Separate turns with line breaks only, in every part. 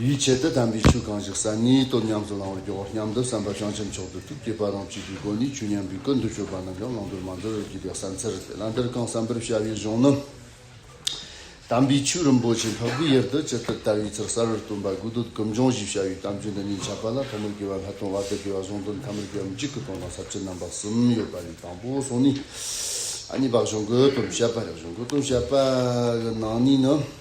ཡིད་ཆེས་དོད་དམ་མི་ཆོས་གང་ཞིག་གསར་རྙེད་སྟོབས་ཉམས་སུ་བླང་བར་འགྱུར་བ་སྙམ་དུ་བསམ་པ་བྱང་ཆེན་མཆོག་ཏུ་ཐུགས་བསྐྱེད་པ་རང་བྱིན་གྱིས་སྒོ་ནས་ཆོས་ཉམས་པའི་ཀུན་ཏུ་སྤྱོད་པ་རྣམས་ཀྱང་བླང་དོར་མ་འདོར་བར་བགྱིད་པའི་གསང་ཚེར་བླ་འདིར་བསྐང་བསམ་པར་བྱ་བའི་གཞུང་ནི། དམ་པའི་ཆོས་རིན་པོ་ཆེ་འཕགས་པའི་ཡུལ་དུ་ཇི་ལྟར་དར་བའི་ཚུལ་གསར་བར་སྟོན་པ་དགོས་འདོད་གུ་འབྱུང་བཞི་བྱ་བའི་གཏམ་རྒྱུད་འདི་ཉིད་ཁྱབ་པ་ལ་ཐོག་མར་དགེ་བ་ལྷ་སྟོན་བར་དུ་དགེ་བ་གཞུང་དོན་ཐ་མར་དགེ་བ་མི་འཇིགས་ཀྱི་དོན་དང་ཟབ་ཆོས་རྣམ་པ་གསུམ་ཡོད་པ་ལས་དང་པོ་གསུངས་ནས། གཉིས་པ་གཞུང་དགོས་དོན་བཤད་པ་རེད་གཞུང་དགོས་དོན་བཤད་པའི་ནང་ནས་ནི།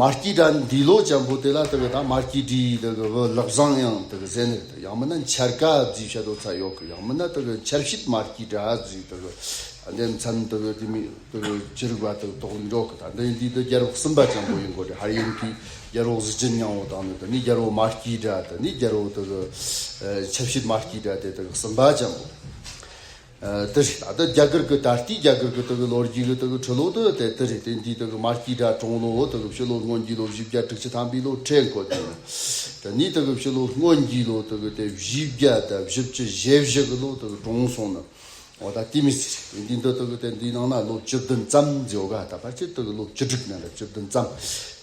མར་སྐྱི་སྒྲ་འདི་ལོ་བྱ་འབུ་དེ་ལ་ལྟ་བའི་དང་མར་སྐྱི་དྲི་དེ་གི་བུ་ལག་བཟང་ཡང་དེ་གི་བཟས་ནས་དེ་ཡང་མི་ན་འཆར་ཀ་རྫི་ཤ་དོ་ཚ་ཡོག་གི་ཡང་མི་ན་དེ་གི་འཆར་བྱིད་མར་སྐྱི་སྒྲ་རྫི་དེ་གི་ཨ་འདན་མཚན་དེ་གི་དེ་མི་དེ་གི་ཅི་རིགས་པ་དེ་གི་དོག་འདྲོག་གི་དང་འདི་འདི་དེ་རྒྱལ་རོགས་སིམ་པ་ཅན་པོ་ཡིན་གོ་དྲི་ཧར་ཡིན་གི་རྒྱལ་རོགས་གཟི་བྱིན་ཉང་བོ་དང་ནི་དེ་ནི་རྒྱལ་རོགས་མར་སྐྱི་སྒྲ་དེ་ནི་རྒྱལ་རོགས་དེ་གི་འཆར་བྱིད་མར་སྐྱི་སྒྲ་དེ་དེ་གི་སིམ་པ་ཅན་པོ། དེ་རེད་ད་ལྟ་རྒྱ་གར་གྱི་ད་ལྟའི་རྒྱ་གར་གྱི་དེ་གའི་ལོ་རྒྱུས་གྱི་དེ་གའི་འཕྲུལ་ལོ་དེ་དེ་དེ་རེད་དེ་འདིའི་དེ་གའི་མར་སྐྱིད་དྲ་གྲོང་ལོ་དེ་གའི་ཕྱི་ལོ་སྔོན་རྒྱུད་ལོ་བཞི་བརྒྱ་དྲུག་ཅུ་ཐམ་པའི་ལོ་ཁྲེལ་འཁོར་དེ་ནི་དེ་ནི་དེ་གའི་ཕྱི་ལོ་སྔོན་རྒྱུད་ལོ་དེ་གའི་དེ་བཞི་བརྒྱ་དང་བཞི་བཅུ་ཞེ་བཞི་གི་ལོ་དེ་གའི་གྲོང་སོང་ནི་འོ་ད་དེ་མི་སྲིད་རེད་དེ་འདི་འདི་དེ་གའི་དེ་འདིའི་ནང་ན་ལོ་བཅུ་བདུན་ཙམ་འཇོག་ག་ད་ཕར་ཆེར་དེ་གའི་ལོ་བཅུ་དྲུག་ན་ལོ་བཅུ་བདུན་ཙམ་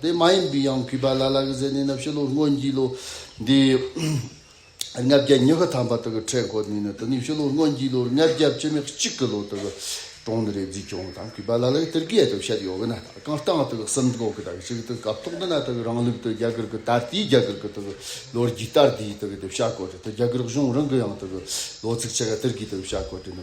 དེ་མ་ཡིན་པའི་ཡང་གུས་པ་ལ་ལ་གི་ཟས་ནི་ནི་བཞི་ལོ་སྔོན་གྱི་ལོ་དེའི་ལྔ་བརྒྱ་ཉི་ཤུ་ཐམ་པ་དག་གི་ཁྲེས་འཁོར་ནི་ནི་དེ་ནི་བཞི་ལོ་སྔོན་གྱི་ལོ་ལྔ་བརྒྱ་བཅུ་མེག་གཅིག་གི་ལོ་དག་གི་གྲོང་ནི་རེ་རྫི་ཀྱོང་དང་གུས་པ་ལ་ལ་གི་ཏིར་ཀེ་ཡ་དུ་བཤད་ཡོ་གི་ན་དག་གང་སྟངས་དག་གི་སིམ་འགོག་གི་དག་གི་ཞིག་དུ་གབ་ཐོག་ཏུ་ན་དག་གི་རང་ལུགས་དུ་རྒྱ་གར་གི་ད་ལྟའི་རྒྱ་གར་གི་དག་གི་ལོ་རྒྱུས་ལྟར་དེའི་དག་གི་དེ་བཤད་དགོས་ཏེ་དེ་རྒྱ་གར་གཞུང་རང་གི་ཡང་དག་གི་ལོ་ཚིགས་ཆེ་ག་ཏིར་ཀེ་ཡ་དུ་བཤད་དགོས་ཏེ།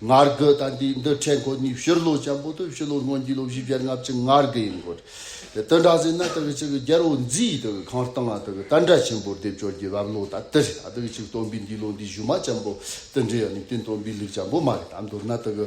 ངར་རྒོད་དང་དེའི་འདུ་འཕྲད་མཁོ་གཉིས་ཕྱིར་སློག་བྱ་འབོ་སྟོད་ཕྱི་ལོ་སྔོན་གྱི་ལོ་བཞི་བརྒྱར་ལྔ་བཅུ་ངར་རྒོད་ཡིན་སྐོར། དེ་དོན་དྲང་ཟིན་ན་དེ་གི་ཕྱི་གི་རྒྱལ་བོ་མཉྫི་ཡིས་དེ་གི་ཁང་སྟེང་ལ་དེ་གི་རྟ་འདྲ་ཆེན་པོར་སྡེབ་སྦྱོར་གྱི་བབ་ལོ་དང་སྟེ་རེད་ད་དེ་གི་ཕྱིར་སྟོན་པའི་འདི་ལོ་འདི་བཞུ་མ་ཆེན་པོ་དེ་འདྲའི་ཡང་ནི་དེ་སྟོན་པའི་ལུགས་ཆེན་པོ་མ་རེད་དམ་མདོར་ན་དེ་གི།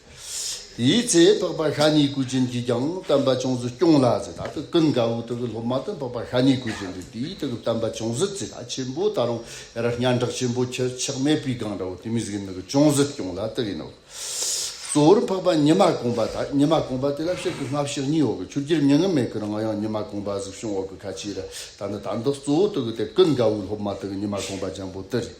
དེའི་ཚེ་འཕགས་པ་ཤཱ་ནི་ཀུ་ཅན་གྱིས་ཀྱང་སྟོན་པ་ཅུང་ཟད་སྐྱོང་ལ་ཟེར་ད་དུ་ཀུན་དགའ་བོའི་ཐུགས་ཀྱི་སློབ་མ་དེ་འཕགས་པ་ཤཱ་ནི་ཀུ་ཅན་དུ་དེའི་ཐུགས་ཀྱི་སྟོན་པ་ཅུང་ཟད་ཚེ་ད་ཆེན་པོ་ད་རུང་ཡར་སྙ་འབྲག་ཆེན་པོ་ཁྱི་ཆག་མེད་པའི་སྒང་འདྲ་བོ་དེ་མི་གཟིགས་མི་གུ་ཅུང་ཟད་སྐྱོང་ལ་དེ་ཡིན་ནོ། གཙོ་བོར་འཕགས་པ་ཉི་མ་གོང་པ་དང་ཉི་མ་གོང་པ་དེ་ལ་ཕྱིར་དུ་སྔ་ཕྱི་གཉིས་འོག་གི་ཆུ་རྒྱུད་མྱི་ངན་མེད་ཀུན་ང་ཡང་ཉི་མ་གོང་པ་གཟིགས་བྱུང་འོག་གི་ཁ་ཆེའི་རི་དང་ནི་དང་དུ་གཙོ་བོ་ཐུགས་ཀྱི་དེ་ཀུན་དགའ་བོའི་སློབ་མ་དེ་ཉི་མ་གོང་པ་ལྗང་པོ་དེ་རེད།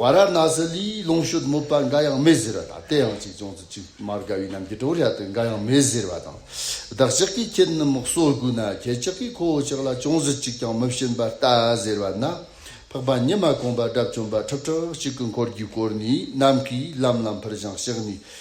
ཝཱ་ར་ཎཱ་སི་ལིའི་ལོངས་སྤྱོད་དམོད་པ་འགའ་ཡང་མེད་ཟེར་བ་དང་དེ་ཡང་གཅིག་ཅུང་ཙི་གཅིག་མ་དགའ་བའི་རྣམས་ཀྱིས་གྲོགས་བྱ་དོན་འགའ་ཡང་མེད་ཟེར་བ་དང། བདག་ཅག་གིས་ཁྱེད་རྣམས་མག་གསོར་བསྒུགས་ན་ཁྱེད་ཅག་གིས་ཁོ་བོ་ཅག་ལ་ཅུང་ཟི་གཅིག་ཀྱང་མི་བྱིན་པ་ལྟ་ཟེར་བ་ན། འཕགས་པ་ཉི་མ་གོང་པ་དགྲ་བཅོམ་པ་ཁྲག་ཁྲག་གཅིག་གི་འཁོར་གྱིས་བསྐོར་ནས་ནམ་མཁའི་ལམ་ལམ་ཕར་བཞེངས་ཤག་ནས།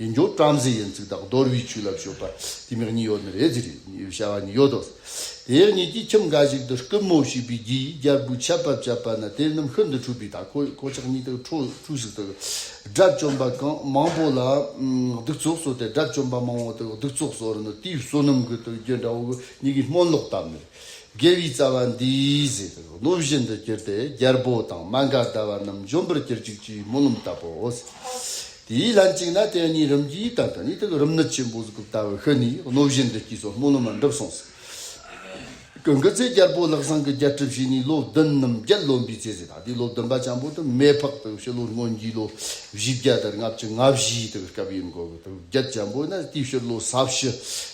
ཡིན་འགྱོ་བཀྲ་མཛེས་ཡན་ཚིག་དག་རྡོར་བུའི་ཆུ་ལ་བྱོ་པ་དེ་མིག་གཉིས་ཡོ་ནི་རེ་ཛི་རེ་ནི་བྱ་བ་ནི་ཡོ་དོ། དེའི་གཉིས་ཀྱིས་ཁྱིམ་འགའ་ཞིག་ཏུ་རྐུན་མོ་བྱིས་པའི་རྒྱུ་ཡིས་རྒྱལ་པོའི་ཆབ་བབ་བཅད་པ་ན་དེ་རྣམས་ཤུལ་དུ་འཁྲུད་པའི་ཐ་ཁོ་ཡི་ཁོ་ཅག་གཉིས་དག་ཁྲོ་ཕྲུག་ཟིག་དག་དགྲ་བཅོམ་པ་གང་མང་པོ་ལ་གདུག་རྩུབ་བཟོ་སྟེ་དགྲ་བཅོམ་པ་མང་བོ་དག་གདུག་རྩུབ་བཟོ་རུ་ནི་དེའི་བསོད་ནམས་གུད་དུ་འགྱོད་འདྲ་བོ་གཉིས་ཀྱིས་སྨོན་ལོག་བཏབ་ནས། དགེ་བའི་རྩ་བ་འདིས་ཟེར་ཏེ་གླུ་བཞིན་དུ་གྱུར་ཏེ་རྒྱལ་པོ་དང་མ་འགའ་ཟླ་བ་རྣམས་འཇོམས་པར་གྱུར་ཅིག་ཅེས་སྨོན་ལམ་བཏབ་བོ། དེའི་ལན་ཅིག་ན་དེ་གཉིས་རིམ་གྱིས་དར་དང་ནི་དེ་ལ་རིམ་ནི་ཆེན་པོ་གཟུགས་སྐུ་བལྟ་བར་ཤི་ནས་གླུ་བཞིན་དུ་སྐྱེས་སོ་སྨོན་ལམ་ལ་འགྲུབ་གསུངས། དགུན་གྱི་ཚེ་རྒྱལ་པོ་ལག་བཟང་གི་རྒྱལ་གྲུབ་བྱས་ནས་ལོ་བདུན་ནམ་བརྒྱད་ལོན་པའི་ཚེ་ཟས་དང་དེའི་ལོ་བདུན་པ་ཆེན་པོ་དུ་མས་ཕག་དུག་ཕྱི་ལོ་སྔོན་གྱི་ལོ་བཞི་བརྒྱ་དར་ལྔ་བཅུ་ལྔ་བཞིའི་དུག་སྐབས་ཡིན་གོ། དུག་བརྒྱད་ཆེན་པོ་ནི་དེའི་ཕྱིར་ལོ་ས་བཞི་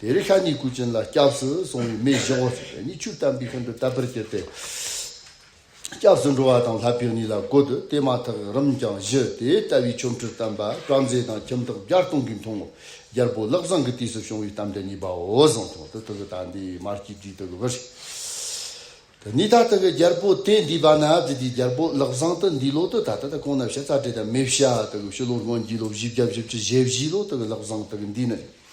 དེ་རིང་ཤ་ཉིའི་སྐུ་ཅན་ལ་སྐྱབས་སུ་སོང་བའི་མི་བཞི་བོ་ཞིག་ཤ་ཉིའི་ཆུ་བལྟམས་པའི་མཁན་པོའི་བསྟབས་པར་གྱུར་ཏེ། སྐྱབས་སུ་འགྲོ་བ་དང་ལྷ་བུད་ནི་ལ་བཀོད་དུ་དེ་མ་ཐག་རིམ་གྱང་བཞི་དེ་ལྟ་བུའི་ཆོ་འཕྲུལ་བསྟན་པ་བཀྲ་མཛེས་དང་ཁྱིམ་བདག་བརྒྱ་སྟོང་གིས་མཐོང་ངོ། རྒྱལ་པོ་བློ་བཟང་གི་དུས་སུ་བྱུང་བའི་གཏམ་དེ་གཉིས་པའོ་གཟུངས་ཐུང་དུ་ཐུགས་དང་དེའི་མར་གྱི་དུས་དུ་བུར། དེ་ནས་ད་ལྟ་གི་རྒྱལ་པོ་དེ་འདུས་པ་ན་དེ་དུས་རྒྱལ་པོ་བློ་བཟང་དུ་འདུས་ལོ་དུ་ད་ལྟ་དུ་གོང་ན་བཤད་རྩ་བྲལ་དང་མི་བྱ་དུ་གི་ཕྱི་ལོ་སྔོན་རྒྱུད་ལོ་བཞི་བརྒྱ་བཞི་བཅུ་ཞེ་བཞི་ལོ་དུ་གི་བློ་བཟང་དུ་གི་འདུས་ནས་རེད།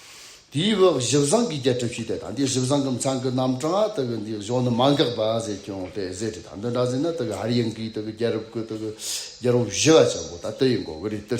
དེའི་བོད་བཞི་བཟང་གི་རྒྱལ་གྲུབ་ཞིག་དེ་དང་དེའི་བཞི་བཟང་གི་མཚང་གི་རྣམ་གྲངས་དུ་གི་འདི་གཞོན་ནུ་མ་འགགས་པ་ཟེར་སྐྱོང་དེ་ཟེར་དེ་དང་དོན་འདྲ་ཟེར་ན་དུ་གི་ཧར་ཡང་གིས་དུ་གི་རྒྱལ་རབས་ཀྱི་དུ་གི་རྒྱལ་པོ་བཞི་བ་ཆེན་པོ་ད་དུ་ཡི་འགོ་གི་རེད་དུ།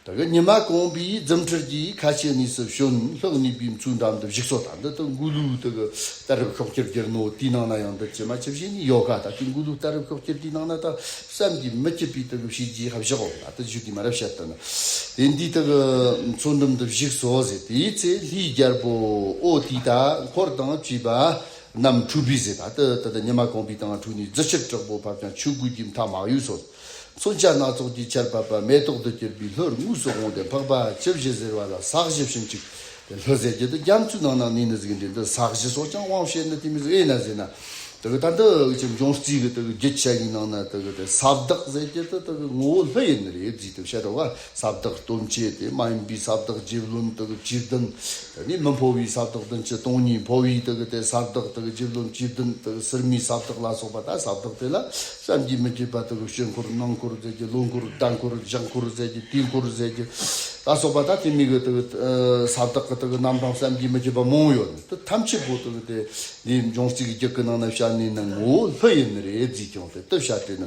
ད་གི་ཉི་མ་གོང་པའི་རྫུན་ཁྲིར་གྱིས་ཁ་ཆེ་གནས་སུ་བྱོན་ལྷག་ནུས་པའི་མཚུངས་འགྲམ་དུ་བཞུགས་སོ་ད་འདི་དུ་མགུ་ལུའི་ད་གི་ད་རུབ་ཤོག་ཁྱེར་གྱིར་ནོ་དེའི་ནང་ན་ཡང་འདི་ཕྱི་མ་ཕྱི་བཞིན་ནི་ཡོད་ག་ད་ལྟའི་མགུ་ལུའི་ད་རུབ་ཤོག་ཁྱེར་དེའི་ནང་ན་ད་བསམ་གྱིས་མི་ཁྱབ་པའི་ད་གི་བྱས་རྗེས་ཧ་བཞག་འོ་ད་ད་བཞུགས་ཀྱི་མ་རབས་བཤད་དོ་ན་དེ་འདི་ད་གི་མཚུངས་འགྲམ་དུ་བཞུགས་སོ་ཟེར་དེའི་ཚེ་ལྷའི་རྒྱལ་པོ་ཨོ་དེའི་ད་འཁོར་དང་བཅས་པ་རྣམས་འཁྲུགས་པས་ཟེར་ད་ད་ད་ད་ཉི་མ་གོང་པའི་དང་འཁྲུགས་ནས་རྫི་ཕྱིར་དྲག་པོ་བབ་ཀྱང་ཆོས་གོས་ཀྱི་མཐའ་མ་གཡོས་སོ། མཚོན་ཆ་སྣ་ཚོགས་ཀྱི་ཆར་བབས་པ་མེ་ཏོག་ཏུ་གྱུར་པའི་ལྷོར་དངོས་སུ་འོངས་ཏེ་འཕགས་པ་བཅུ་བཞི་ཟེར་བ་ལ་ཟག་བཞི་བྱིན་ཅིག། དེ་ལྷོད་ཟེར་གྱི་འདུག་རྒྱ་མཚོའི་ནང་ན་གནས་ནི་གཟུགས་འདྲེས་འདུག་ཟག་བཞི་སོགས་ཀྱང་དབང་བྱས་ནས་དེ་མིན་དབྱེ་ན་ཟེར་ན། དེ་གི་ད་འདི་གི་ཁྱིམ་སྦྱོང་རྩིས་གི་དེ་གི་རྒྱུ་ཆ་ཡི་ནང་ན་དེ་གི་དེ་ཟབ་བདག་ཟེར་གྱི་དེ་དེ་གི་ངོ་བོ་ལྷོད་ཡིན་ནི་རེད་ཅིག་དེ་བཤད་དོ་ག། ས་བདག་སྟོན་བྱེད་དེ་མ་ཡིན་པའི་ས་བདག་རྗེ་བློན་དག་སྤྱི་བདུན་དེ་ནི་མི་འཕོ་བའི་ས་བདག་བདུན་གྱི་སྟོང་ཉིད་འཕོ་བའི་དག་གི་དེ་ས་བདག་དག་རྗེ་བློན་སྤྱི་བདུན་དག་གསེར་མའི་ས་བདག་ལ་སོགས་པ་དག་ས་བདག་དེ་ལ་བསམ་གྱིས་མི་ཁྱབ་པ་དག་གི་ཞོལ་འཁོར་ནང་འཁོར་ཟས་ཀྱི་ལོ་འཁོར་སྦྲ་འཁོར་ལྗགས་འཁོར་ཟས་ཀྱི་དུས་འཁོར་ཟས་ཀྱི་ལ་སོགས་པ་དག་དེ་མིག་གི་དག་གི་ས་བདག་གི་དག་གི་རྣམ་གྲངས་བསམ་གྱིས་མི་ཁྱབ་པ་མང་ཡོད་དེ་ཐམས་ཅད་པོ་དག་གི་དེ་འདིའི་འབྱུང་རྩིས་ཀྱི་རྒྱུད་ཀྱི་ནང་ན་བྱ་ནི་ནི་ངོ་བོ་ལྷུ་ཡིན་ནི་རེ་རྫས་ཀྱང་དེ་ལྟར་བྱ་སྟེ་ནི་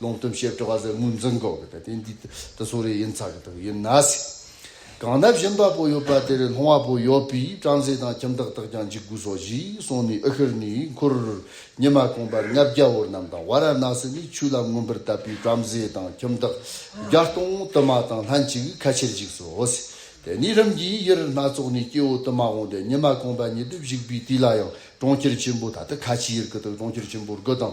ལོང་སྟོན་བྱེད་སྤྲོ་བ་ཟེར་ངོས་འཛིན་དགོས་གི་རེད་དེ་འདི་དེ་ཚོ་རེད་ཡིན་ཚར་གི་འདུག་ཡིན་ན་སྲིད། གང་ན་བཞིན་པ་པོ་ཡོད་པ་དེ་རེད་ལྷོང་བ་པོ་ཡོད་པས་བྲམ་ཟེ་དང་ཁྱིམ་བདག་དག་ཀྱང་འཇིགས་དགོས་སོ་ཞེས་གསུངས་ནས་ཨི་ཤིར་ནི་འཁོར་ཉི་མ་གོང་པར་ལྔ་བརྒྱ་བོར་རྣམས་དང་བ་ར་ན་སི་ནི་ཆུ་ལ་མངོན་པར་བཏབ་པས་བྲམ་ཟེ་དང་ཁྱིམ་བདག་བརྒྱ་སྟོང་དུ་མ་དང་ལྷན་ཅིག་ཁ་ཕྱིར་འཇིགས་སོ་ཞེས་དེ་ནས་རིམ་གྱིས་ཡེ་རི་སྣ་ཚོགས་ནས་སྐྱེ་བོ་དུ་མ་འོངས་ཏེ་ཉི་མ་གོང་པ་ཉི་དུ་བཞུགས་པའི་དུས་ལ་ཡང་གྲོང་ཁྱེར་ཆེན་པོ་ད་ལྟ་ཁ་ཆེའི་ཡུལ་གྱི་དུ་གྲོང་ཁྱེར་ཆེན་པོར་དགུ་དང་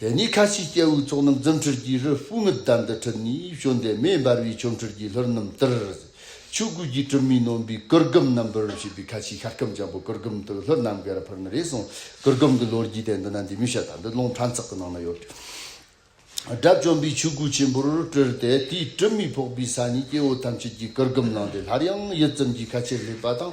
དེ་ནས་ཁ་ཆེའི་སྐྱེ་བོའི་ཚོགས་རྣམས་རྫུ་འཕྲུལ་གྱི་རུས་སྤུས་མི་བདག་འདི་ཁྲིད་ནས་བྱོན་ཏེ་མེ་འབར་བའི་ཆོ་འཕྲུལ་གྱིས་ལྷུར་རྣམས་བསྟར། ཆོས་གོས་ཀྱི་གྲུབ་མའི་ནོན་པའི་གུར་གུམ་རྣམས་འབུལ་བར་བྱེད་པའི་ཁ་ཆེའི་ཤ་སྐམ་ཆེན་པོ་གུར་གུམ་དུ་ལྷུར་ནམ་མཁའི་ར་ཕུར་ན་རེ་ཟུང་གུར་གུམ་གྱི་ལོ་རྒྱུས་དེ་འདི་ན་འདི་མོའི་ཤ་དང་འདི་རླུང་ཕྲན་ཚེགས་ཀྱི་ནང་ན་ཡོད། དགྲ་བཅོམ་པའི་ཆོས་གོས་ཆེན་པོར་སྤྲུལ་ཏེ་དེའི་གྲུབ་མའི་ཕོག་པའི་ས་ནས་སྐྱེ་བོ་ཐམས་ཅད་ཀྱི་གུར་གུམ་བླངས་ཏེ་སླར་ཡང་ཡུད་ཙམ་གྱིས་ཁ་ཆེར་སླེབས་པ་དང་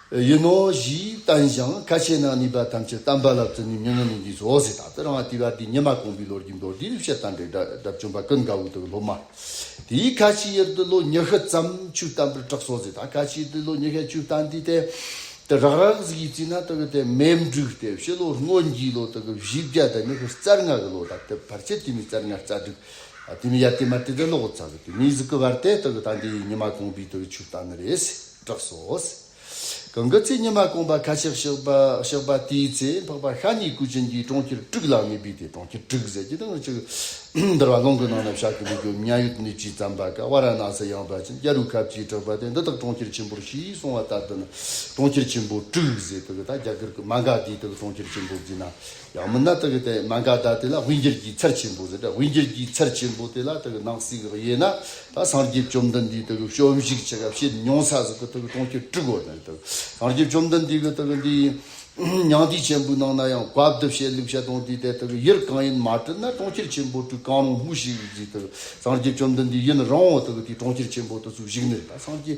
ཡིན་ནོ་ཞེས་བསྟན་ཞིང་ཁ་ཆེ་ན་ནུས་པ་ཐམས་ཅད་བསྟན་པ་ལ་བརྩོན་ནུས་མྱ་ངན་ལས་འདས་སོ་ཟེར་ད་ལྟ་རང་བསྟི་བ་འདི་ཉི་མ་གོང་བུའི་ལོ་རྒྱུས་མདོར་བསྡུས་བཤད་སྟངས་དེ་དགྲ་བཅོམ་པ་ཀུན་དགའ་བོ་དང་སློབ་མ་དེའི་ཁ་ཆེའི་ཡུལ་དུ་ལོ་ཉི་ཤུ་ཙམ་ཆུ་བཏང་པར་གྲགས་སོ་ཟེར་ད་ཁ་ཆེའི་ཡུལ་དུ་ལོ་ཉི་ཤུ་ཆུ་བཏང་དུས་དེ་ལྟར་རག་རག་གཟིགས་ཡིག་བརྩིས་ན་ད་གི་དེ་སྨད་འབྲུག་སྟེ་བཞི་ལོར་སྔོན་རྒྱུའི་ལོ་དང་གི་བཞི་བརྒྱ་དང་ཉི་ཤུ་རྩ་ལྔ་གི་ལོ་ད་ལྟ་བར་ཆད་དུས་མི་རྩ་ལྔ་རྩ་དྲུག་དུས་མི་ཡར་དུས་མར་དུས་དགྲ་ལོག་ཚ་གི་དུས་མིའི་གཟུགས་ཀྱི་བར་དེ་ད་གི་ད་འདིའི་ཉི་མ་གོང་བུའི་ད་གི་ཆུ་བཏང་ནི་རེད། གྲགས་སོ། གང་གི་ཚེ་ཉི་མ་སྐོམ་པ་ཁ་ཤག་ཤག་པ་དེའི་ཚེ་འཕགས་པ་ཤ་ཉེ་སྐུ་ཅན་གྱིས་གྲོང་ཁྱེར་དཀྲུགས་ལ་གནས་པས་དེ་གྲོང་ཁྱེར་དཀྲུགས་ཟེར་གྱི་དང་ཅིག། འདིར་བ་ལང་གི་ནང་ན་བཞག་གི་འདུག་གོ་མྱ་ཡུད་ནུས་ཀྱིས་བརྩམས་པ་ཀ་བ་ར་ནཱ་སི་ཡང་བ་ཅན་ཀྱ་རུ་ཁབ་ཀྱིས་གྲགས་པ་སྟེ་འདི་དག་གྲོང་ཁྱེར་ཆེན་པོར་ཞེས་གསུང་བ་ལྟར་དུ་ནི་གྲོང་ཁྱེར་ཆེན་པོ་དཀྲུགས་ཟེར་དུ་གི་དག་རྒྱ་གར་གྱི་མ་འགའ་དེའི་དུ་གི་གྲོང་ཁྱེར་ཆེན་པོར་བརྫིས་ན་ཡང་མིན་ན་དག་དེ་མན་ག་ད་དེ་ལ་དབུས་འགྱུར་གྱི་ཚད་ཆེན་པོ་དེ་དབུས་འགྱུར་གྱི་ཚད་ཆེན་པོ་དེ་ལ་དག་ནང་གསེས་ཀྱི་དབྱེ་ན་དག་སངས་རྒྱས་བཅོམ་ལྡན་འདས་དག་བཅོམ་གཞིག་བྱེད་སྐབས་བྱས་མྱོང་ས་སོགས་ཀྱི་དག་སྟོང་ཁྱད་དྲུག་གོ་དང་དག་སངས་རྒྱས་བཅོམ་ལྡན་འདས་ཀྱི་དག་འདི་མྱང་འདས་ཆེན་པོའི་ནང་ན་ཡང་བཀའ་བསྡུ་བྱེད་ལུགས་བྱ་སྟོང་དེ་དེ་དག་ཡུལ་གང་ཡིན་མ་བཀྲུལ་ན་སྟོང་ཁྱེར་ཆེན་པོ་དྲུག་གང་རུང་སྨོས་ཤིག་གིས་དག་སངས་རྒྱས་བཅོམ་ལྡན་འདས་ཡུལ་རང་དག་དེ་སྟོང་ཁྱེར་ཆེན་པོ་དུ་སུ་ཞིག་ནས་དག་སངས་རྒྱས་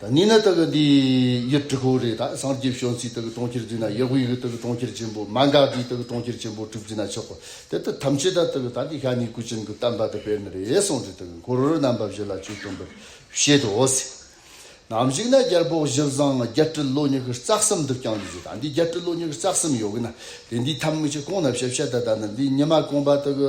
ད་ནི་ན་དག་གི་འདི་ཡི་དྲི་ཁོ་རེ་ད་སངས་རྒྱས་བྱོན་ཚིག་དག་གི་གྲོང་ཁྱེར་འདི་ན་ཡོད་གོ་ཡི་གི་དག་གི་གྲོང་ཁྱེར་ཆེན་པོ་མ་འགགས་འདི་དག་གི་གྲོང་ཁྱེར་ཆེན་པོ་གྲུབ་ཅི་ན་ཆོག་གོ་དེ་ལྟར་ཐམས་ཅད་ད་དག་གི་ད་གི་ཤ་ནི་ཀུ་ཅན་གི་གཏམ་བ་དག་པས་ན་རེ་ཟུང་དེ་དག་གི་འཁོར་རྣམ་པ་བཞི་ལ་ཆོས་སྟོན་པར་བྱེད་དོ། ནམ་ཞིག་ན་རྒྱལ་པོ་བཞི་བཟང་བརྒྱད་ཁྲི་ལོ་ཉི་ཤུ་རྩ་གསུམ་འདུག་ཀྱང་འདི་ཞེས་ད་འདི་བརྒྱད་ཁྲི་ལོ་ཉི་ཤུ་རྩ་གསུམ་ཡོད་གི་ན་དེ་འདི་ཐམས་ཅད་གང་ན་བྱེད་བྱེད་ད་ད་ནི་འདི་ཉི་མ་གང་བ་དག་གི་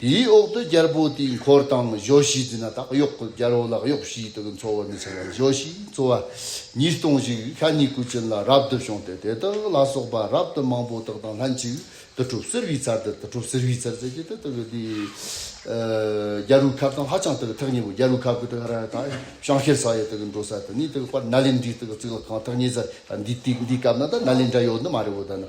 དེའི་འོག་ཏུ་རྒྱལ་པོ་དེའི་འཁོར་དང་གཞོགས་བཞི་རྫི་ན་དག་གཡོག་གི་རྒྱལ་པོ་ལ་གཡོག་བཞིའི་དུག་གིས་འཚོ་བར་མི་བྱ་བར་གཞོགས་བཞིས་འཚོ་བ། ཉིས་སྟོང་ཞིག་ཤ་ཉིས་སྐུ་བྱིན་ལ་རབ་ཏུ་བྱུང་སྟེ་དེ་དག་ལ་སོགས་པ་རབ་ཏུ་མང་པོ་དག་དང་ལྷན་ཅིག་ཏུ་གྲུབ་གསེར་བུའི་ཚལ་དེར་དུ་གྲུབ་གསེར་བུའི་ཚལ་ཟེར་གྱི་དེ་དག་གི་དེའི་རྒྱལ་པོའི་ཁབ་དང་ཧ་ཅང་དག་ཐག་ཉེ་བོ་རྒྱལ་པོའི་ཁབ་ཀྱི་དག་ར་ཡ་དག་ཤང་ཤེར་ས་ཡ་དག་གི་འགྲོ་ས་དེ་ནི་དག་པར་ན་ལེནྡྲའི་དག་གི་ཚིག་ལ་གང་ཐག་ཉེ་ས་འདི་དེ་འདིའི་སྐབས་ན་དག་ན་ལེནྡྲ་ཡོད་ནི་མ་རེད་བོ་དག་ན།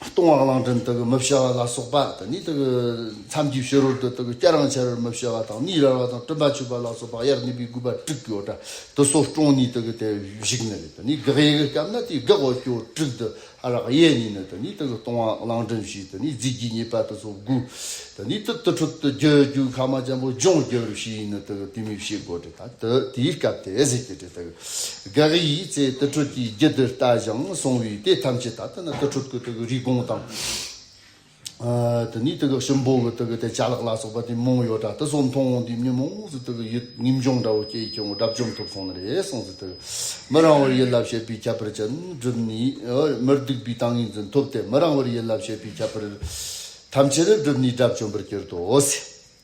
ལྟུང་བ་གླང་ཕྲན་དག་མི་བྱ་བ་ལ་སོགས་པ་དང་ནི། མཚམས་ཀྱི་ཕྱི་རོལ་དུ་དག་སྐྱ་རང་བྱ་བར་མི་བྱ་བ་དང་ནི་རལ་བ་དང་སྤྲིན་པ་ཆུད་པ་ལ་སོགས་པ་དབྱར་གནས་པའི་དགུ་པ་དྲུག་གི་འོད་དུ་སོ་སྐྱོང་ནི་དག་དེ་བཞུགས་ནས་ནི་དགག་དབྱེ་གི་སྐབས་ན་དེའི་དགག་འོད་སྐྱོ་དྲུག་དུ་ཨ་རག་གཡས་གཉིས་ནི་དང་ནི་དག་ལྟུང་བ་གླང་ཕྲན་བྱས་དང་ནི་རྫས་ཀྱི་ཉེས་པ་དུ་སོ་དགུ་དང་ནི་དུ་དུ་ཁྲུབ་ཏུ་རྒྱུ་རྒྱུ་ཁ་མ་ཅན་པོ་ལྗོངས་རྒྱུར་བྱས་ནི་དག་དུས་མི་བྱེད་དགོད་དྲི་དང་དུ་དེའི་སྐབས་དེ་ཟས་ཀྱི་དྲི། དགག་དབྱེའི་ཚེ་དུར་ཁྲོད་ཀྱི་རྒྱུ་དུར་ལྟ་ཞིང་སོང་བས་དེ་ཐམས་ཅད་ད་ལྟ་ན་དུར་ཁྲོད་ཀྱི་དུག་གི་རིགས་གོང་དང། དེ་ནས་དུག་གི་ཤུན་སྦོ་བའི་དུག་གི་དེ་བྱ་ལག་ལ་སོགས་པ་དུས་མང་ཡོད་དྲ་ཏི་སོགས་མཐོང་འོང་དུས་མི་མང་སུ་དུག་གི་ཡུལ་ངེམ་འབྱུང་འདྲ་བོ་སྐྱེ་ཡི་ཁྱོད་དགྲ་བཅོམ་ཐུབ་སོང་ན་རེ་སོང་སུ་དུག་མི་རང་བར་ཡིད་ལ་བྱེད་པའི་ཁྱད་པར་ཅན་བསྒྲུབས་ནས་མིར་སྡུག་པའི་ཏང་ངེ་འཛིན་ཐོབ་སྟེ་མི་རང་བར་ཡིད་ལ་བྱེད་པའི་ཁྱད་པར་ཐམས་ཅད་བསྒྲུབས་ནས་དགྲ་བཅོམ་པར་གྱུར་ཏོ།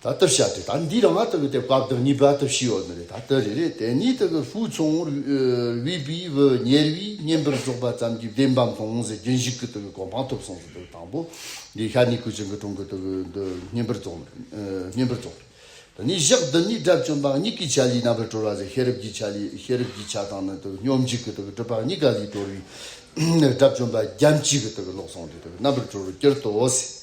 ད་ལྟར་བཤད་དེ་ད་འདི་རང་ང་ལྟ་བུའི་དེ་བཀག་སྟངས་གཉིས་བར་དུ་ཞི་ཡོད་ནི་རེད་ད་ལྟར་རེད་རེད་དེ་གཉིས་ལྟ་བུའི་ཧྥུའུ་ཆུང་དབྱི་པི་བུ་ཉེར་བཞི་བསྙེན་པར་རྫོགས་པ་ཙམ་གྱིས་བདེན་པའམ་ལྷུང་བཟེད་རྒྱུན་བཞུགས་ཀྱི་ལྟ་བུའི་གོ་འཕང་ཐོབ་སོང་ཟེར་དང་པོ་འདི་ཤར་ནི་ཁུལ་ཆེན་གྱི་གྲོང་གི་ལྟ་བུའི་འདི་བསྙེན་པར་རྫོགས་བསྙེན་པར་རྫོགས་རེད་དེ་ནས་བཞག་འདི་གཉིས་དགྲ་བཅོམ་པ་གཉིས་ཀྱི་ཆ་ལུས་རྣམ་པར་གྲོལ་བ་ཟེར་ཤེས་རབ་ཀྱི་ཆ་ལུས་ཤེས་རབ་ཀྱི་ཆ་དང་ནི་ལྟ་བུའི་སྙོམས་འཇུག་གི་ལྟ་བུའི་སྒྲུབ་པ་གཉིས་ཀ་ལུས་གྲོལ་བས་དགྲ་བཅོམ་པ་རྒྱམ་གཅིག་གི་ལྟ་བུའི་ལོག་སོང་གི་ལྟ་བུའི་རྣམ་པར་གྲོལ་བར་གྱུར་ཏོ་ཟེར།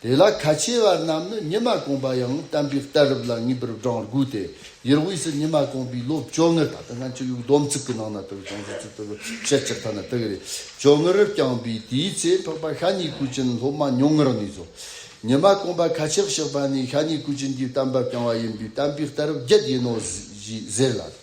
དེ་ལ་ཁ་ཆེ་བ་རྣམས་ནི་ཉི་མ་གོང་པ་ཡང་བསྟན་པའི་གཏད་རབས་ལ་ངེས་པར་བགྲང་དགོས་ཏེ་ཡུལ་དབུས་སུ་ཉི་མ་གོང་པའི་ལོ་བཅོ་ལྔར་ད་ལྟ་ང་ཅི་ཡོད་སྡོམ་ཚིག་གི་ནང་ན་དུ་བྱང་ཆུབ་སེམས་དཔའ་ལོ་བཤད་སྤྱིར་ཐ་ན་དགེ་རེས་བཅོ་ལྔ་རུ་བསྐྱངས་པས་དེའི་ཚེ་འཕགས་པ་ཤ་ཉེ་སྐུ་ཅན་སློབ་མ་ཉུང་ངུར་གནས་སོ། ཉི་མ་གོང་པ་ཁ་ཆེར་གཤེགས་པ་ནི་ཤ་ཉེ་སྐུ་ཅན་གྱི་བསྟན་པ་བསྐྱངས་བ་ཡིན་པས་བསྟན་པའི་གཏད་རབས་བརྒྱད་ཡིན་ནོ་ཞེས་ཟེར་ལ།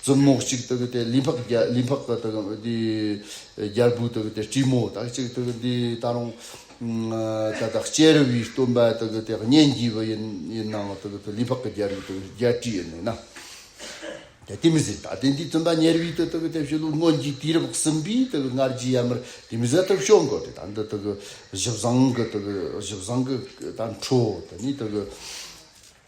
རྩུབ་མོ་གཅིག་དག་དེ་ལི་འཕགས་རྒྱལ་ལི་འཕགས་དག་དང་དེ་རྒྱལ་བུ་དག་དེ་བཀྲིས་མོ་དག་ཅིག་དག་འདི་ད་རུང་ད་དག་སྐྱེ་རུ་བའི་སྟོན་པ་དག་དེ་སྙན་བརྒྱུད་པ་ཡིན་ཡིན་ནའང་དག་དེ་ལི་འཕགས་ཀྱི་རྒྱལ་བུ་དག་རྒྱལ་བཀྲིས་ཡིན་ནོ། དེ་དེ་མི་ཟད་ད་ལྟའི་འདི་སྟོན་པ་ཉེར་བུའི་དུ་དག་དེ་བཞི་ལུགས་སྔོན་གྱི་དུས་རབས་གསུམ་པའི་དག་སྔར་རྒྱུད་ཡར་མར་དེ་མི་ཟད་དག་བྱུང་དགོས་ཏེ་ད་འདི་དག་བཞི་བཟང་གི་དག་བཞི་བཟང་གི་ད་འཕྲོ་དེ་ནི་དག།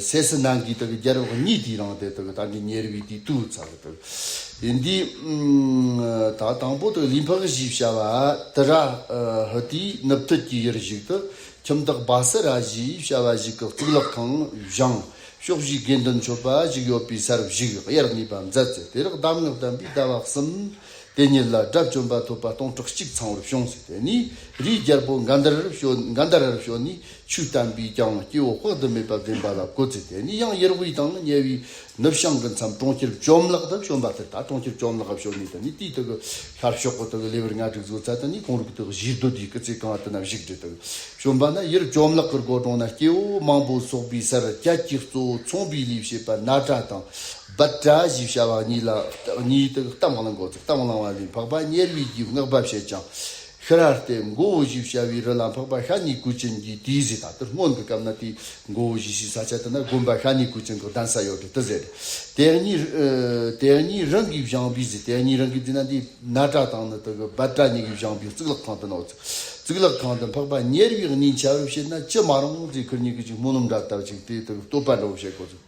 ཟས་སུ་ནང་གི་རྒྱལ་རབས་གཉིས་དེའི་ནང་དེ་ད་ནི་ཉེ་རིགས་དེ་དུ་ཚ་གི་ཡིན་དེ། ད་དང་པོ་ལི་འཕགས་བཞི་བྱ་བ་ཏི་ར་ཧི་དེའི་ནུབ་ཐོད་ཀྱི་ཡུལ་ཞིག་ཏུ་ཁྱིམ་བདག་སྦ་སི་ར་བཞི་བྱ་བ་ཞིག་གི་གཙུག་ལག་ཁང་བཞེངས་ཕྱོགས་བཞིའི་དགེ་འདུན་མཆོད་པ་ཞིག་ཡོད་པའི་སར་བཞུགས་དབྱར་གནས་པ་མཛད་ཚེ་དེ་རག་གདམས་ངག་བསྟན་པའི་ཟླ་བ་གསུམ་དེ་ཉིད་ལ་དགྲ་བཅོམ་པ་ཐོབ་པ་སྟོང་ཕྲག་གཅིག་ཚང་བར་བྱུང་ཚེ་དེ་ནས་རིའི་རྒྱལ་པོ་མགར་ཟླ་རར་བྱོན་ནས་ཆུ་བསྟན་པས་ཀྱང་སྐྱེ་བོ་དཔག་ཏུ་མེད་པ་བདེན་པ་ལ་གོ་འཛིན་དེ་ནི་ཡང་ཡེར་ཝུའི་དང་ཉེ་བའི་ནུབ་བྱང་གི་མཚམས་གྲོང་ཁྱེར་བཅོམ་བརླག་དུ་བྱོན་པ་དེ་དག་གྲོང་ཁྱེར་བཅོམ་བརླག་བྱོན་ནས་དེ་ནི་དུས་དེའི་ཤར་ཕྱོགས་གོ་ཐོག་གི་ལེ་བར་ལྔ་དྲུག་བཟོའི་ཚལ་དུ་ནི་གུང་རུ་གི་དུས་བཞིའི་བདུད་སྡེའི་སྐུ་ཚེ་གང་དུ་ན་བཞུགས་འདི་དག་བྱོན་པ་ན་ཡེར་བཅོམ་བརླག་གི་སྒོ་དྲུང་ན་སྐྱེ་བོ་མང་པོ་ཚོགས་པའི་སར་སྐྱ་ཀྱི་གཙོ་བོ་ཚོང་པའི་ལས་བྱེད་པ་ནཱ་ཏྲ་དང་བཱ་ཏྲ་ཞེས་བྱ་བ་གཉིས་ལ་གཉིས་དག་གཏམ་བླང་གོ་ཚུལ་གཏམ་བླང་བ་ལས་འཕགས་པ་ཉེར་བུས་རྒྱུའི་བསྔགས་པ་བྱེད་ཅིང་ཤཱ་ར་ཏས་མགོ་བོ་བཞི་བྱ་བའི་རི་ལ་འཕགས་པ་ཤཱ་ནི་གུ་ཅན་གྱིས་དེའི་གཟིགས་ད་དུ་སྔོན་གྱི་སྐབས་ན་དེའི་མགོ་བོ་བཞི་ཞིག་ས་ཆ་དེ་ན་དགོན་པ་ཤཱ་ནི་གུ་ཅན་གྱི་གདན་ས་ཡོད་དུ་དུ་ཟེར། དེ་གཉིས། དེ་གཉིས་རང་གིས་བཞེངས་པའི་གཟིགས་དེ་གཉིས་རང་གིས་བསྡུས་ན་འདི་ན་བྲག་ཐང་ནི་དུ་གི་བལ་བྲག་གཉིས་ཀྱིས་བཞེངས་པའི་གཙུག་ལག་ཁང་དུ་ནོར། གཙུག་ལག་ཁང་དུ་འཕགས་པ་ཉེར་བཞི་གཉིས་འཆའ་བར་བྱེད་ན་ཅི་མ་རུང་ཚེ་ཁུར་གཉིས་ཀྱིས་ཅིག་སྨོན་ལམ་འདྲ་བཏབ་ཅིག་དེའི་ཐུགས་བསྟོད་པར་འགྲོ་བར་བྱེད་དགོས།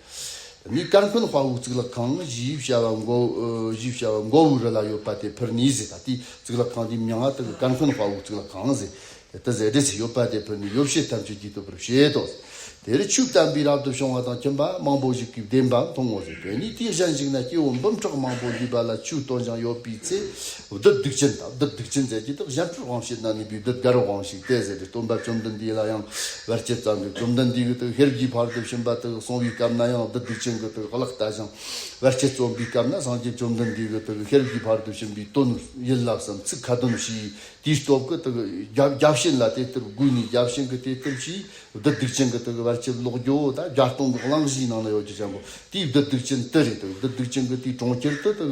ནི་དཀར་འཁོན་དཔའ་བོའི་གཙུག་ལག་ཁང་བཞིའི་བྱ་བ་མགོ་བོའི་རི་ལ་ཡོད་པ་དེ་ཕུར་ནི་ཟེར་ད་ལྟའི་གཙུག་ལག་ཁང་དེའི་མྱང་ང་དག་གི་དཀར་འཁོན་དཔའ་བོའི་གཙུག་ལག་ཁང་ཟེར་ད་ཟེར་འབྲེལ་ཚིག་ཡོད་པ་དེ་ཕུར་ནི་ཡོ་བྱད་ཐམས་ཅད་ཀྱིས་བསྟོད་པར་བྱེད་དོ། དེར་ཆོས་བསྟན་པའི་རབ་ཏུ་བྱུང་བ་དང་མཁྱེན་པ་མང་པོ་ཞིག་གིས་བདེན་པ་མཐོང་ངོ་ཞེས་བོས་ནས་དེའི་ཞལ་འཇིགས་ན་སྐྱེ་བོ་འབུམ་ཕྲག་མང་པོ་འདུས་པ་ལ་ཆོས་སྟོན་ཅིང་ཡོད་པའི་ཚེ་བདུད་སྡིག་ཅན་དང་བདུད་སྡིག་ཅན་རྫས་ཀྱི་དག་གཞན་ཕུར་དབང་བྱེད་ན་ནུས་པའི་བདུད་བརྒྱ་རུ་དབང་ཞིག་སྟེ་ཟེར་བའི་སྟོན་པ་བཅོམ་ལྡན་འདས་ལ་ཡང་བར་ཆད་བརྩམས་པས་བཅོམ་ལྡན་འདས་ཀྱི་དག་ཧེར་གྱིས་བར་དུ་ཕྱིན་པ་དག་སོང་བའི་སྐབས་ན་ཡང་བདུད་སྡིག་ཅན་གྱི་དག་བརླག་ལྟ་ཞིང་བར་ཆད་བརྩོམ་པའི་སྐབས་ན་སངས་རྒྱས་བཅོམ་ལྡན་འདས་ཀྱི་དག་ཧེར་གྱིས་བར་དུ་ཕྱིན་པའི་དོན་ཡིན་ལགས་སམ་ཚིག་ཁ་དོན་ཞེས་དེའི་སྟོབས་ཀྱི་དག་རྒྱ་བྱིན་ལ་དེ་ལྟར་བསྒུགས་ནས་རྒྱ་བྱིན་གྱི་དེ་ལྟར་གྱིས་བདུད་སྡིག་ཅན་གྱི་དག་བར་ཆད་བརློག་རྒྱུ་དང་བརྒྱ་སྟོང་གི་གླང་གཞིའི་ནང་ན་ཡོད་རྒྱུ་བྱམས་པོ་དེའི་བདུད་སྡིག་ཅན་དེ་རེད་དོ་བདུད་སྡིག་ཅན་གྱི་དེའི་གྲོང་ཁྱེར་དུ་དག་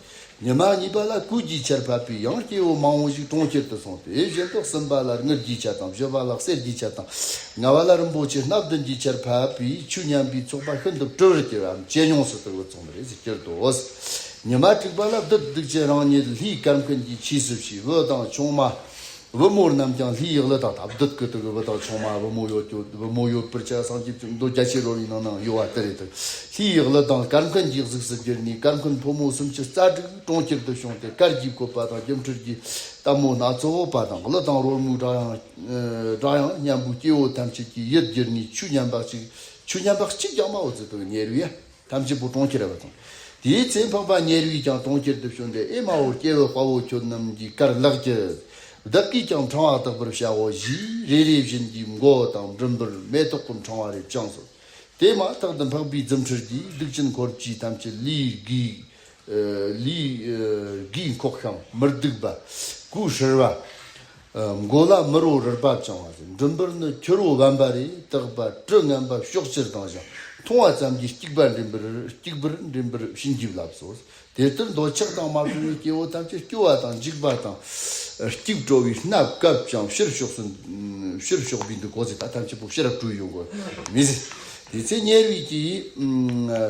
ཉི་མ་གཉིས་པ་ལ་སྐུ་བརྒྱའི་ཆར་ཕབ་པས་ཡང་སྐྱེ་བོ་མང་བོ་ཞིག་གྲོང་ཁྱེར་དུ་སོང་སྟེ་གཞན་དག་སུམ་པ་ལ་དངུལ་བརྒྱའི་ཆར་དང་བཞི་པ་ལ་གསེར་བརྒྱའི་ཆར་དང་ལྔ་བ་ལ་རིན་པོ་ཆེ་སྣ་བདུན་གྱི་ཆར་ཕབ་པས་ཆུ་མཉམ་པའི་ཚོགས་པ་ཤིན་ཏུ་སྤྲོ་བར་གྱུར་བའམ་ཇེ་ཉུང་སུ་དུ་བཙོངས་པར་རེས་གྱུར་ཏོ། ཉི་མ་དྲུག་པ་ལ་བདུད་སྡིག་ཅན་རང་ཉིད་ལྷའི་སྐར་མཁན་གྱི་ཕྱིས་སུ་བྱས་བུ་དང་ཆུང་མ། བུ་མོ་རྣམས་ཀྱང་ལྷའི་ཡིག་ལི་དང་དག་བདུད་ཀྱི་དུག་བུ་དང་ཆུང་མ་བུ་མོ་ཡོད་ཀྱི་བུ་མོ་ཡོད་པར་བྱས་སངས་རྒྱས་ཀྱི་མདོ་རྒྱ་ཆེ་རོ་ཡི་ནང་ན་ཡོད་བ་དེ་རེད་དོ། ལྷའི་ཡིག་ལི་དང་སྐར་མཁན་གྱི་གཟུགས་སུ་གྱུར་ནས་སྐར་མཁན་ཕོ་མོ་སུམ་ཅུ་རྩ་དྲུག་གྲོང་ཁྱེར་དུ་བྱུང་སྟེ་སྐར་གྱི་བཀོད་པ་དང་སྒྱུ་འཕྲུལ་གྱི་སྟབས་མོ་སྣ་ཚོགས་འོག་པ་དང་གླུ་དང་རོལ་མོའི་སྒྲ་དབྱངས་སྙན་པོས་སྐྱེ་བོ་ཐམས་ཅད་ཀྱི་ཡིད་བསྒྱུར་ནས་ཆུ་མཉམ་པ་གཅིག་ཆུ་མཉམ་པ་གཅིག་ཀྱང་མ་འོད་ཟེར་དུ་ཉེར་བའི་ཐམས་ཅད་པོ་གྲོང་ཁྱེར་བ་དང། དེའི་ཚེ་འཕགས་པ་ཉེ་རིགས་ཀྱང་གྲོང་ཁྱེར་དུ་བྱོན་ཏེ་ཨེ་མ་ཧོ་སྐྱེ་བོའི་དཔའ་བོ་ཁྱོད་རྣམས་ཀྱིས་གར་ལགས་ཀྱི། བདག་གིས་ཀྱང་འཕྲང་བ་དག་པར་བྱའོ་བཞིས་རེ་རེ་བཞིན་གྱི་མགོ་དང་མགྲིན་པར་མེ་ཏོག་གི་འཕྲང་བ་རེ་བཅངས་སོ། དེ་མ་ཐག་ཏུ་འཕགས་པའི་རྫུ་འཕྲུལ་གྱིས་གདུག་ཅན་འཁོར་གྱི་ཐམས་ཅད་ལུས་བསྒུལ། ལུས་དགུས་འཁོགས་ཤམ་མིར་བདུག་པ། སྐུ་ཧྲིལ་བ། མགོ་ལ་མི་རོ་རིལ་པ་བཅང་བ། མགྲིན་པར་ནི་ཁྱི་རོ་དབེན་པ་རེ་བཏགས་པ་དྲི་ངན་པ་ཕྱོགས་བཅུར་ལྡང་ཞིང་མཐོང་བ་ཙམ་གྱིས་སྐྱིགས་པ་འདྲེན་པར་སྐྱིགས་བུར་འདྲེན་པར་བྱིན་གྱིས་བརླབས་སོ། དེ་ལྟར་འདོད་ཆགས་དང་མ་བྲལ་བའི་སྐྱེ་བོ་ཐམས་ཅད་སྐྱོ་བ་དང་འཇིགས་པ་དང། སྐྱུག་བྲོ་བའི་སྣ་བཀབ་ཅིང་ཕྱིར་ཕྱོགས་སུ། ཕྱིར་ཕྱོགས་པའི་འདུ་འགོག་ཚེ་ཐག་ཐམས་ཅད་པོ་ཤེས་རབ་སྤྲུལ་ཡོད་དགོས་མི། དེ་ཚེ་དམྱལ་རིགས་ཀྱི།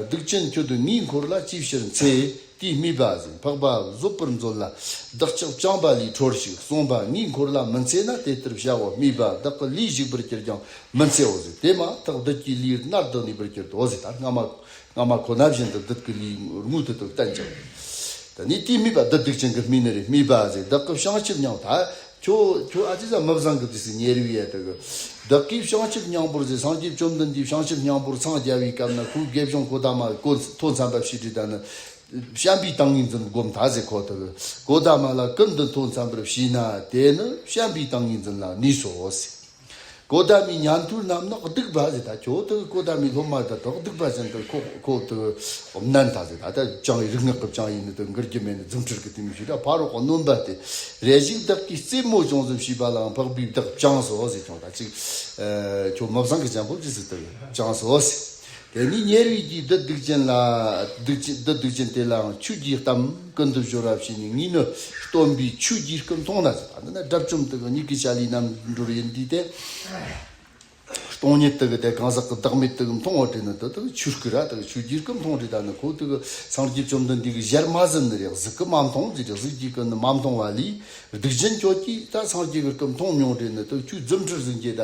སྡིག་ཅན་ཁྱོད་དུ་མིའི་འཁོར་ལ་ཅིའི་ཕྱིར་འཚེ། དེས་རྨིས་པ་བཞིན་འཕགས་པ་གཟོད་པར་མཛོད་ལ། བདག་ཅག་བྱམས་པ་ལས་འཕྲོར་ཞིག་གསུངས་པ་མིའི་འཁོར་ལ་མི་འཚེ་ན་དེ་ལྟར་བྱ་བ་རྨིས་པ་བདག་གི་ལུས་ཞིག་པར་གྱུར་ཀྱང་མི་འཚེའོ་ཟེར་དེ་མ་ཐག་བདུད་ཀྱི་ལུས་རྣར་ལྡོག་ནས་པར་གྱུར་ཏོ་ཟེར་ལྟར་སྔ་མ་སྔ་མ་ཁོ་ན་བཞིན་དུ་བདུད་ཀྱི་ལུས་རྔུལ་དུ་དུ་བསྟན་ཅིང། དེ་ནས་དེས་རྨིས་པ་བདུད་སྡིག་ཅན་གྱི་རྨིས་ནི་རེ་རྨིས་པ་བཞིན་བདག་གི་བྱང་ཆུབ་མྱང་ཐ། ཁྱོད་ཁྱོད་ཨ་ཅེ་ཟ་མི་བཟང་གི་དུས་སུ་ཉེ་རིང་ཡས་དག་གི། བདག་གིས་བྱང་ཆུབ་སྙིང་པོར་ཟེར་སངས་རྒྱས་བཅོམ་ལྡན་འདས་བྱང་ཆུབ་སྙིང་པོར་འཚང་རྒྱ་བའི་སྐབས་ན་ཁོའི་དགེ་སྦྱོང་གོ་ད་མ་གོ་ཐོ་མཚམས་པ་བཤིས་དྲི་དག་ནི། བྱམས་པའི་ཏང་ངེ་འཛིན་བསྒོམ་ད་ཟེར་ཁོ་དག་གོ་ད་མ་ལ་ཀུན་འདི་ཐོ་མཚམས་པར་བཤིས་ན་དེ་ནི་བྱམས་པའི་ཏང་ངེ་འཛིན་ལ་ནུས་སོ་ཟེར། ཀོ་ད་མའི་ཉམས་དུས་རྣམས་ནི་སྡིག་པ་ཟད་ད་ཁྱོད་དེ་ཀོ་ད་མའི་སློབ་མ་དེ་དག་སྡིག་པ་ཟད་འདི་ཁོ་ཁོ་དེ་ནན་ད་ཟད་ད་ད་ཅང་རིག་སྔགས་ཀྱི་ཅང་ཡིན་ནི་དེ་འགུལ་གྱི་མེད་ནི་རྫུ་འཕྲུལ་གྱི་དུས་མི་ཤེས་ད་ཕ་རོག་གི་སྣོན་པ་དེ་རེ་ཞིག་བདག་གིས་རྩེད་མོ་ཅུང་ཙམ་བྱས་པ་ལའང་འཕགས་པའི་བདག་ཅང་སོ་ཟེར་ཀྱང་ད་ཅིག་ཁྱོད་མི་བཟང་གི་བྱང་ཕུབ་ཅི་ཟེར་དེ་ཀྱང་སོ་ཟེར། དེ་ནས་ཉེ་རིགས་ཀྱི་བདུད་སྡིག་ཅན་ལ། བདུད་སྡིག་ཅན་དེ་ལའང་ཆུ་རྒྱུས་གཏམ་ཀུན་ཏུ་བཞུགས་རབས་བྱས་ནས་ངིས་ནི་སྟོན་པའི་ཆུ་རྒྱུས་ཀུན་མཐོང་ན་ཟེར་བ་འདི་ནི་དགྲ་བཅོམ་དུ་གི་མྱིག་གི་ཆ་ལུས་རྣམ་འགྲོར་ཡིན་དུས་ཏེ། སྟོང་ཉིད་དུ་གི་དེ་གང་ཟག་གི་བདག་མེད་དུ་གི་མཐོང་བ་དྲན་ན་དེ་དག་གི་ཆུར་སྐུ་ར་དག་གི་ཆུ་རྒྱུས་ཀུན་མཐོང་དྲན་ད་ནི་ཁོ་ཐུག་གི་སངས་རྒྱས་བཅོམ་ལྡན་འདས་ཀྱི་ཞལ་མ་ཟིན་ནི་རེག་ཟིག་གི་མ་མཐོང་ཅི་རེག་ཟིག་གྱིས་ཀུན་ནི་མ་མཐོང་བ་ལས། སྡིག་ཅན་ཁྱོད་ཀྱིས་ད་སངས་རྒྱས་ཀྱི་སྐུ་མཐོང་མྱོང་དྲན་ནི་དེ་ཆུ་རྫུ་འཕྲུལ་ཟིན་གྱིས་ད།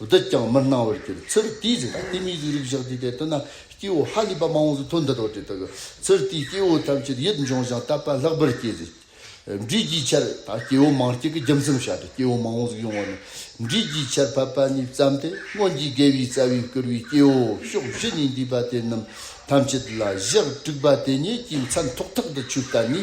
བདག་ཀྱང་མི་སྣང་བར་གྱུར། ཚུར་དེའི་རྗེས་ཀྱི་ལྟས་མིའི་གཟུགས་རིག་བཞག་དུས་དེ་ལྟ་ན་སྐྱེ་བོ་ཧ་ལས་པ་མང་བོ་ཚོ་དོན་འདི་རྟོགས་ཏེ་དག་གི། ཚུར་དེའི་སྐྱེ་བོ་ཐམས་ཅད་ཡིད་འབྱུང་ཞིང་བརྟགས་པ་ལྷག་པར་སྐྱེ། འབྲས་ཀྱི་ཆར་ད་སྐྱེ་བོ་མང་སྐྱེ་གི་རྒྱུ་མཚམས་བཤད་དོ། སྐྱེ་བོ་མང་བོ་ཟིག་ཡོང་བ་ནི། འབྲས་ཀྱི་ཆར་ཕབ་པ་ནས་བརྩམས་ཏེ་སྔོན་གྱི་དགེ་བའི་རྩ་བས་བསྐུར་བའི་སྐྱེ་བོ་ཕྱོགས་བཞི་ནས་འདུས་པ་དེ་རྣམས་ཐམས་ཅད་ལ་བཞག་དྲུག་པ་དེ་ཉིད་ཀྱི་མཚམས་ཐོག་ཐག་ཏུ་ཆུ་བལྟ་ནས།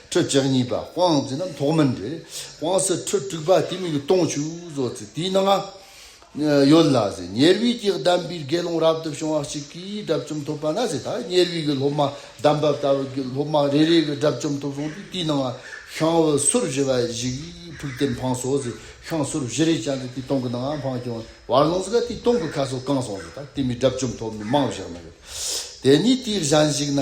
ཁྲོད་ལྕགས་གཉིས་པ་དབང་རྫས་རྣམས་ཐོག་མར་འདྲེས། དབང་སྲི་ཁྲོད་དྲུག་པ་དེ་མིག་གི་སྟོང་ཆུ་བཟོ་རྩེ་དེའི་ནང། ཡོད་ལ། ཉེར་དབྱིག་གི་གདམས་པའི་དགེ་སློང་རབ་ཏུ་བྱུང་བ་གཅིག་གིས་དགྲ་བཅོམ་ཐོབ་པ་ན། ཉེར་དབྱིག་གི་སློབ་མ་གདམས་པ་ལྟ་བུ་གྱིས་སློབ་མ་རེ་རེ་གི་དགྲ་བཅོམ་ཐོབ་སོང་སྟེ་དེའི་ནང། ཤངས་བུ་སོར་བཞི་བ་ཞིག་ཕུག་སྟེ་འཕང་སོང། ཤངས་སོར་བཞི་རེ་བཅངས་ཏེ་དེའི་སྟོང་གི་ནང་འཕང་བྱུང། བར་ལོངས་སྐ་དེའི་སྟོང་གི་ཁ་སོ་བཀང་སོང། དེ་མིན་དགྲ་བཅོམ་ཐོབ་མི་མང་བཞག་ན་ཡོད། དེ་ནས་དེའི་གཞན་ཞིག་ན།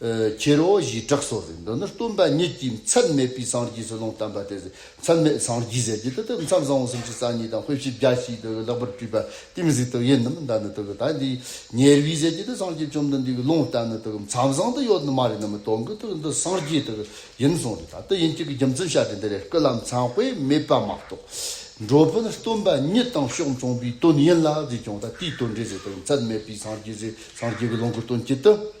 ཁྱེར་རོ་ཞེས་གྲགས་སོ་ཟེར་འདི་ནི་སྟོན་པ་ཉིད་ཀྱིས་མཚམས་མེད་པའི་སངས་རྒྱས་སུ་ལུང་བསྟན་པ་དེ་མཚམས་མེད་སངས་རྒྱས་ཟེར་རྒྱུ་དེ་དུས་མཚམས་བཟང་བོ་སུམ་ཅུ་རྩ་གཉིས་དང་དཔེ་བཞི་བརྒྱ་ཞེས་དུ་བའི་ལེགས་པར་སྤྲུལ་པ་ཏིང་འཛིན་དུ་ཡིན་ནམ་མདའ་ནི་དུ་བའི་དག་འདིའི་ཉེར་བཞི་ཟེར་རྒྱུ་དེ་སངས་རྒྱས་བཅོམ་ལྡན་འདས་ཀྱི་ལུང་བསྟན་ནི་དུ་བའི་མཚམས་བཟང་དུ་ཡོད་ནི་མ་རེད་ནམ་མི་དོན་གྱི་དུས་འདི་སངས་རྒྱས་དུ་བའི་ཡིན་གསུངས་རེད་ད་དུས་ཡིན་གཅིག་གི་རྒྱུ་མཚན་བཤད་དེ་འདི་རེད་སྐུ་ལ་མཚན་དཔེ་མེད་པ་མ་གཏོགས་འགྲོ་དཔོན་སྟོན་པ་ཉིད་དང་ཕྱོགས་མཚུངས་པའི་དོན་ཡིན་ལ་ཟེར་ཀྱང་ད་ལྟའི་དོན་འགྲེལ་ཟེར་དུས་མཚམས་མེད་པའི་སངས་རྒྱས་ཟེར་སངས་རྒྱས་ཀྱི་ལུང་གི་དོན་གྱི་དུས།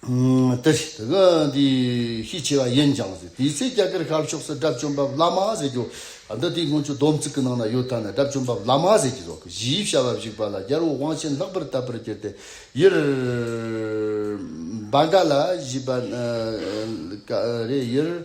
ཏི་ཧྲི། དེ་ག་དེ་ཤས་ཆེ་བ་ཡིན་ཀྱང་ཟེར། དེའི་ཚེ་རྒྱ་གར་ཤར་ཕྱོགས་སུ་དགྲ་བཅོམ་པ་བླ་མ་ཟེར་རྒྱུ། འདི་དེའི་སྔོན་ཆོས་སྡོམ་བརྩིགས་ཀྱི་ནང་ན་ཡོད་ཐ་ན་དགྲ་བཅོམ་པ་བླ་མ་ཟེར་གྱི་རོག་གཞིའི་བྱ་བ་བཞུགས་པ་ལ་རྒྱལ་བོ་དབང་ཆེན་ལྷག་པར་དད་པར་གྱུར་ཏེ་ཡུལ། བཱ་ག་ལ་བཞུགས་པ། རེད་ཡུལ།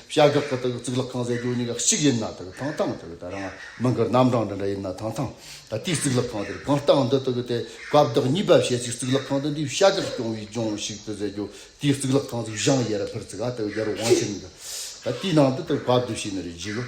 བྱ་གག་གི་དག་གཙུག་ལག་ཁང་ཟེར་རྒྱུ་གཉིས་ཀ་གཅིག་ཡིན་ན་དག་ཐང་ཐང་དག་དེ་རང་མིང་གི་རྣམ་གྲངས་འདི་འདྲ་ཡིན་ན་ཐང་ཐང་དག་དེའི་གཙུག་ལག་ཁང་དེར་གང་ལྟ་འདི་དག་དེ་སྐབས་བདག་གཉིས་པ་བྱེད་ཚིག་གཙུག་ལག་ཁང་དེ་འདི་བྱ་གག་སྐྱོང་བའི་ལྗོངས་ཞིག་ཏུ་ཟེར་རྒྱུ་དེའི་གཙུག་ལག་ཁང་གི་བྱང་གཡས་ར་ཕེར་ཚིག་ག་དག་རྒྱལ་རོང་ཆེན་གྱི་དེའི་ནང་དུ་དག་བབ་དུ་བྱས་ནས་རེ་བྱས་ཡོད།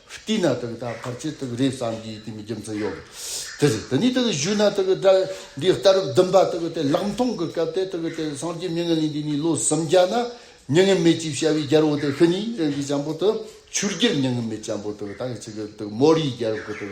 བསྟི་ན་དག་ད་བར་ཆད་དག་རེད་བསམ་གྱིས་དེའི་རྒྱུ་མཚན་ཡོད་དེ་རེད་དེ་ནས་དག་བཞུགས་ན་དག་སྒྲ་འདི་ལྟར་བདུན་པ་དག་དེ་ལག་མཐོང་གི་སྐབས་དེ་དག་དེ་སངས་རྒྱས་མྱ་ངན་ལས་འདས་ནས་ལོ་སུམ་བརྒྱ་ན་མྱ་ངན་མེད་ཅེས་བྱ་བའི་རྒྱལ་པོ་དེ་ཤི་ནས་རིན་པོ་ཆེན་པོ་དུ་ཆུར་གྱུར་མྱ་ངན་མེད་ཆེན་པོ་དག་དག་ཆི་གི་དག་མོ་རིའི་རྒྱལ་པོ་དག